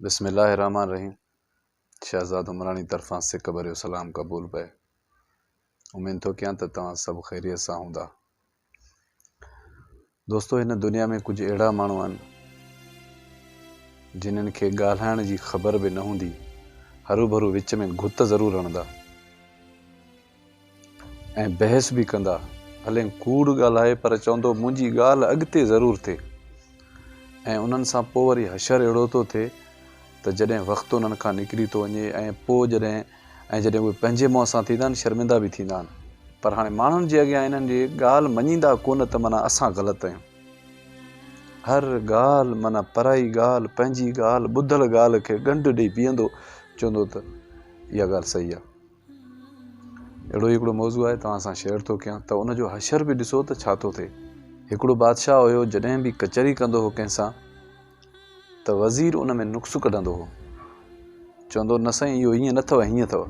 بسم الله الرحمٰن الرحيم شهزاد عمراڻي طرفان سڪ ڀريو سلام قبول پئي اميد ٿو ڪيان ته توهان سڀ خيريت سان هوندا دوستو هن دنيا ۾ ڪجهه اهڙا ماڻهو آهن جنن کي ڳالهائڻ جي خبر به نه هوندي هروڀرو وچ ۾ گهت ضرور هڻندا ۽ بحث به ڪندا. ڀلين ڪوڙ ڳالهائي پر چوندو منهنجي ڳالهه اڳتي ضرور ٿئي ۽ انهن سان پوء وري حشر اهڙو ٿو ٿئي ته جڏهن وقت انهن کان نڪري ٿو وڃي ۽ پوء جڏهن ۽ جڏهن اهي پنهنجي منهن سان ٿيندا آهن شرمندا به ٿيندا آهن. پر هاڻي ماڻهن جي اڳيان انهن جي ڳالهه مڃيندا ڪونه ته معنيٰ اسان غلط آهيون. هر ڳالهه معنيٰ پرائي ڳالهه پنهنجي ڳالهه ٻڌل ڳالهه کي ڳنڍ ڏئي پيئندو چوندو ته اها ڳالهه صحيح آهي. اهڙو ئي هڪڙو موضوع آهي توهان سان شيئر ٿو ڪيان ته ان جو حشر به ڏسو ته ڇا ٿو ٿئي هڪڙو بادشاهه هيو جڏهن به ڪچهري ڪندو هو ڪنهن سان ته وزير ان ۾ نقص ڪڍندو هو چوندو نه سائين اهو ائين نه اٿو هيئن اٿو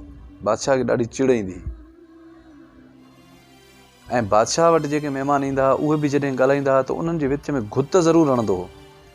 بادشاهه کي ڏاڍي چڙ ايندي هئي ۽ بادشاهه وٽ جيڪي مهمان ايندا هئا اهي به جڏهن ڳالهائيندا هئا ته انهن جي وچ ۾ گهت ضرور هڻندو هو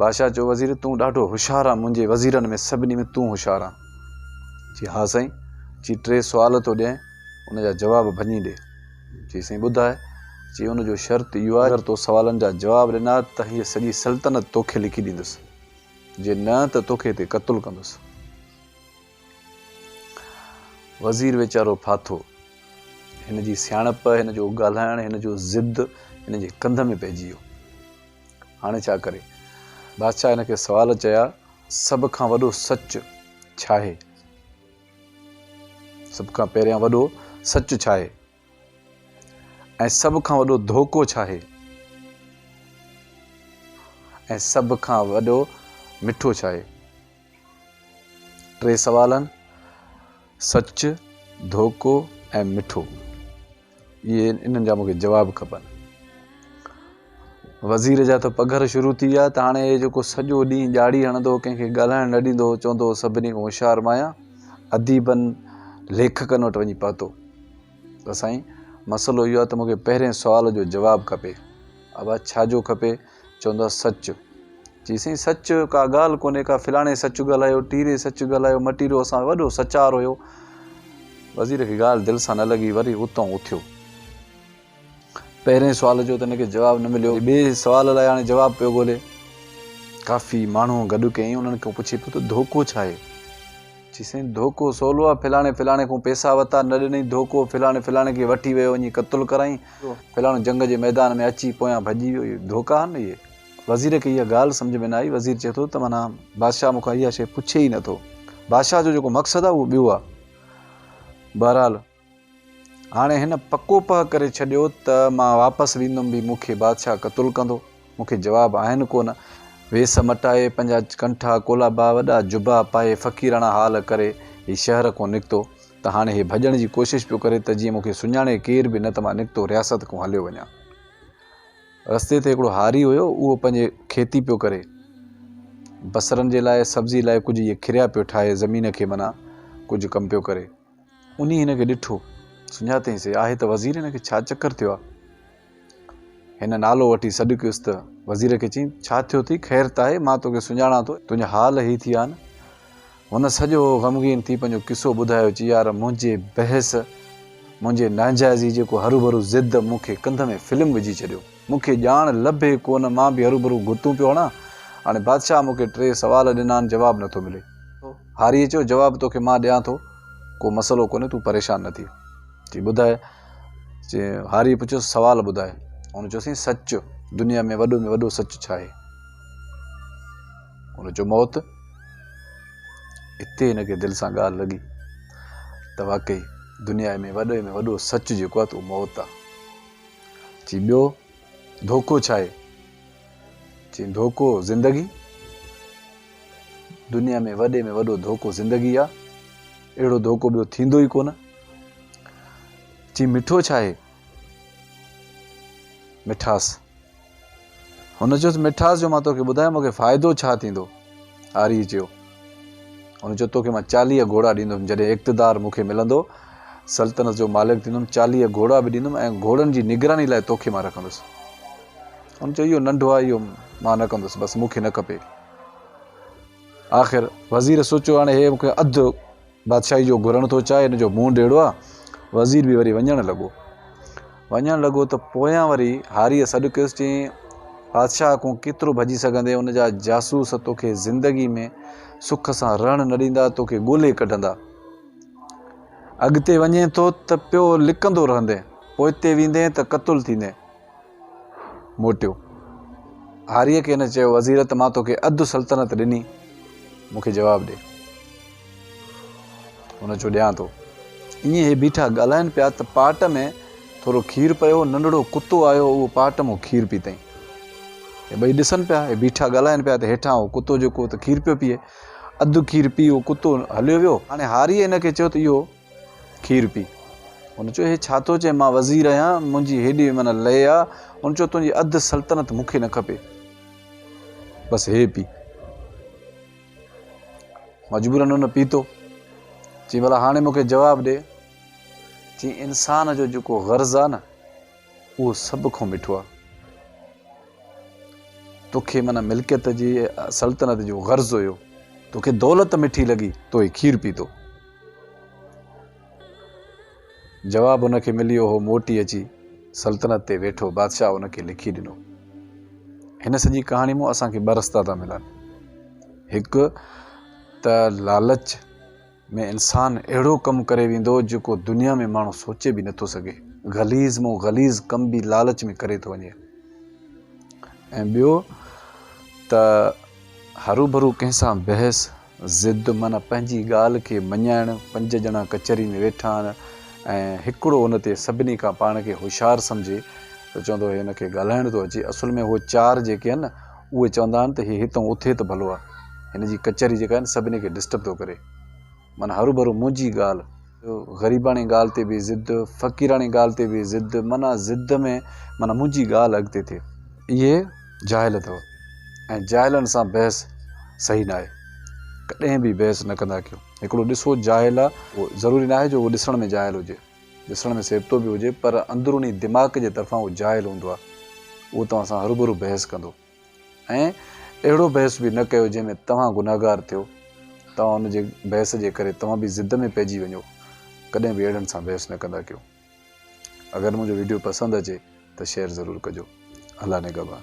بادشاهه چيو وزير تون ڏاڍو هوشيار آهي منهنجي وزيرن ۾ سڀني ۾ تون هوشيار آهي چي ها سائين چي ٽي سوال ٿو ڏيئين ان جا جواب ڀڃي ڏي چي سائين ٻڌاء چي ان جو شرط اهو آهي اگر تو سوالن جا جواب ڏنا ته هيء سڄي سلطنت توکي لکي ڏيندس جي نه ته توکي هتي قتل ڪندس وزير ويچارو ڦاٿو هن جي سياڻپ هن جو ڳالهائڻ هن جو ضد هن جي ڪنڌ ۾ پئجي ويو هاڻي ڇا ڪري؟ بادشاهه هن کي سوال چيا، سڀ کان وڏو سچ ڇاهي؟ سڀ کان پهريان وڏو سچ ڇاهي؟ ۽ سڀ کان وڏو ڌوڪو ڇاهي؟ ۽ سڀ کان وڏو مٺو ڇاهي؟ ٽي سوالن، سچ، ڌوڪو ۽ مٺو، اهي انهن جا مون کي جواب کپن. وزير جا ته پگهر شروع ٿي ويا ته هاڻي اهي جيڪو سڄو ڏينهن ڄاڙي هڻندو هو، ڪنهن کي ڳالهائڻ نه ڏيندو هو، چوندو هو سڀني کان هوشيار مان آهيان، اديبن، ليکڪن وٽ وڃي پهتو. ته سائين، مسئلو اهو آهي ته مون کي پهرئين سوال جو جواب کپي. ابا ڇا جو کپي؟ چوندا سچ. چي سائين سچ ڪا ڳالهه ڪونهي ڪا فلاڻي سچ ڳالهايو ٽيري سچ ڳالهايو مٽيرو اسان وڏو سچار هيو. وزير کي ڳالهه دل سان نه لڳي وري اتان اٿيو. پهرين سوال جو ته هن کي جواب نه مليو. ٻئي سوال لاء هاڻي جواب پيو ڳولي. ڪافي ماڻهو گڏ ڪيائين انهن کان پڇي پيو ته ڌوڪو ڇا آهي؟ چي سائين ڌوڪو سولو آهي فلاڻي فلاڻي کان پيسا وتا نه ڏنئي ڌوڪو فلاڻي فلاڻي کي وٺي ويو وڃي قتل ڪرائين فلاڻو جنگ جي ميدان ۾ اچي پويان ڀڄي ويو، اهي ڌوڪا آهن نه اهي. وزير کي اها ڳالهه سمجهه ۾ نه آئي، وزير چئي ٿو ته معنيٰ بادشاهه مون کان اها شيء پڇي ئي نه ٿو. بادشاهه جو جيڪو مقصد آهي اهو ٻيو آهي. بهرحال هاڻي هن پڪو پهه ڪري ڇڏيو ته مان واپس ويندم به مون کي بادشاهه قتل ڪندو. مون کي جواب آهن ڪونه. ويس مٽائي، پنهنجا ڪنٺا ڪولابا، وڏا جبا پائي، فقيراڻا حال ڪري هي شهر کون نڪتو ته هاڻي هي ڀڄڻ جي ڪوشش پيو ڪري ته جيئن مون کي سڃاڻي ڪير به نه ته مان نڪتو رياست کون هليو وڃان. رستي تي هڪڙو هاري هيو، اهو پنهنجي کيتي پيو ڪري. بصرن جي لاء، سبزي لاء ڪجهه اهي کريا پيو ٺاهي، زمين کي منا ڪجهه ڪم پيو ڪري. انهي هن کي ڏٺو. سڃاتئين سي آهي ته وزير هن کي ڇا چڪر ٿيو آهي. هن نالو وٺي سڏ ڪيس ته وزير کي چيم ڇا ٿيو ٿي خير ته آهي مان توکي سڃاڻان ٿو تنهنجا حال هي ٿي آهن. هن سڄو غمگين ٿي پنهنجو قصو ٻڌايو چي يار منهنجي بحث منهنجي ناجائزي جيڪو هروڀرو ضد مون کي ڪنڌ ۾ فلم وجهي ڇڏيو. مون کي ڄاڻ لڀي ڪونه، مان به هروڀرو گوتون پيو هڻان. هاڻي بادشاهه مون کي ٽي سوال ڏنا آهن، جواب نٿو ملي. هاريء چيو، جواب توکي مان ڏيان ٿو، ڪو مسئلو ڪونهي، تون پريشان نه ٿي. چي ٻڌاء. چي هاريء پڇيس، سوال ٻڌاء. هن چيو، سائين سچ، دنيا ۾ وڏو ۾ وڏو سچ ڇا آهي؟ هن چيو، موت. اتي هن کي دل سان ڳالهه لڳي ته واقعي دنيا ۾ وڏي ۾ وڏو سچ جيڪو آهي ته اهو موت آهي. چي ٻيو ڌوڪو ڇا آهي؟ چي ڌوڪو زندگي. دنيا ۾ وڏي ۾ وڏو ڌوڪو زندگي آ. اهڙو ڌوڪو ٻيو ٿيندو ئي ڪونه. چي مٺو ڇا آهي؟ مٺاس. هن چيس مٺاس جو مان توکي ٻڌايان مونکي فائدو ڇا ٿيندو؟ آريء چيو. هن چيو توکي مان چاليهه گهوڙا ڏيندم جڏهن اقتدار مونکي ملندو سلطنت جو مالڪ ٿيندم چاليهه گهوڙا به ڏيندم ۽ گهوڙن جي نگراني لاء توکي مان رکندس. هن چيو اهو ننڍو آهي اهو مان نه ڪندس بس مونکي نه کپي. آخر وزير سوچيو هاڻي هي مونکي اڌ بادشاهي جو گهرڻ ٿو چاهي، هن جو منهن ڊيڙو آ. وزير به وري وڃڻ لڳو. وڃڻ لڳو ته پويان وري هاريء سڏ ڪيس، چيائين، بادشاهه کون ڪيترو ڀڄي سگهندين، ان جا جاسوس توکي زندگي ۾ سک سان رهڻ نه ڏيندا، توکي ڳولي ڪڍندا. اڳتي وڃين ٿو ته پيو لڪندو رهندين، پوئتي ويندين ته قتل ٿيندين. موٽيو. هاريء کي هن چيو، وزير ته مان توکي اڌ سلطنت ڏني، مون کي جواب ڏي. هن چيو، ڏيان ٿو. ائين هي بيٺا ڳالهائين پيا ته پاٽ ۾ ٿورو کير پيو هو، ننڍڙو ڪتو آيو هو، اهو پاٽ مون کير پيتائين. هي ٻئي ڏسن پيا، هي بيٺا ڳالهائين پيا ته هيٺان اهو ڪتو جيڪو هو ته کير پيو پيئي. اڌ کير پي اهو ڪتو هليو ويو. هاڻي هاريء هن کي چيو ته اهو کير پي. هن چيو، هي ڇا ٿو چئين، مان وزير آهيان، منهنجي هيڏي من لئي آ. هن چيو، تنهنجي اڌ سلطنت مون کي نه کپي. بس هي پي. مجبوراً هن پيتو. چيائين، ڀلا هاڻي مون کي جواب ڏي. چيائين، انسان جو جيڪو غرض آ نه، اهو سڀ کان مٺو آ. توکي من ملڪيت جي، سلطنت جو غرض هيو. توکي دولت مٺي لڳي، تو هي کير پيتو. جواب ان کي مليو هو موٽي اچي سلطنت تي ويٺو بادشاهه ان کي لکي ڏنو هن سڄي ڪهاڻي مون اسان کي ٻه رستا ٿا ملن هڪ ته لالچ ۾ انسان اهڙو ڪم ڪري ويندو جيڪو دنيا ۾ ماڻهو سوچي به نٿو سگهي غليز مون غليز ڪم به لالچ ۾ ڪري ٿو وڃي ۽ ٻيو ته هرو ڀرو ڪنهن سان بحث ضد معنيٰ پنهنجي ڳالهه کي مڃائڻ، پنج ڄڻا ڪچهري ۾ ويٺا آهن ۽ هڪڙو ان تي سڀني کان پاڻ کي هوشيار سمجهي ته چوندو هي هن کي ڳالهائڻ ٿو اچي اصل ۾ هو چار جيڪي آهن نه اهي چوندا آهن ته هي هتئون اٿي ته ڀلو آ هن جي ڪچهري جيڪا آهي نه سڀني کي ڊسٽرب ٿو ڪري معنيٰ هروڀرو منهنجي ڳالهه غريباڻي ڳالهه تي به ضد، فقيراڻي ڳالهه تي به ضد، معنيٰ ضد ۾ معنيٰ منهنجي ڳالهه اڳتي ٿئي. اهي جاهل اٿو ۽ جاهلن سان بحث صحيح ناهي. ڪڏهن به بحث نه ڪندا ڪيو. هڪڙو ڏسو جاهل آ، ضروري ناهي جو اهو ڏسڻ ۾ جاهل هجي. ڏسڻ ۾ سيبتو به هجي پر اندروني دماغ جي طرفان اهو جاهل هوندو آ. اهو توهان سان هروڀرو بحث ڪندو. ۽ اهڙو بحث به نه ڪيو جنهن ۾ توهان گنهگار ٿيو. توهان ان جي بحث جي ڪري توهان به ضد ۾ پئجي وڃو. ڪڏهن به اهڙن سان بحث نه ڪندا ڪيو. اگر منهنجو ويڊيو پسند اچي ته شيئر ضرور ڪجو. الله نگهبان.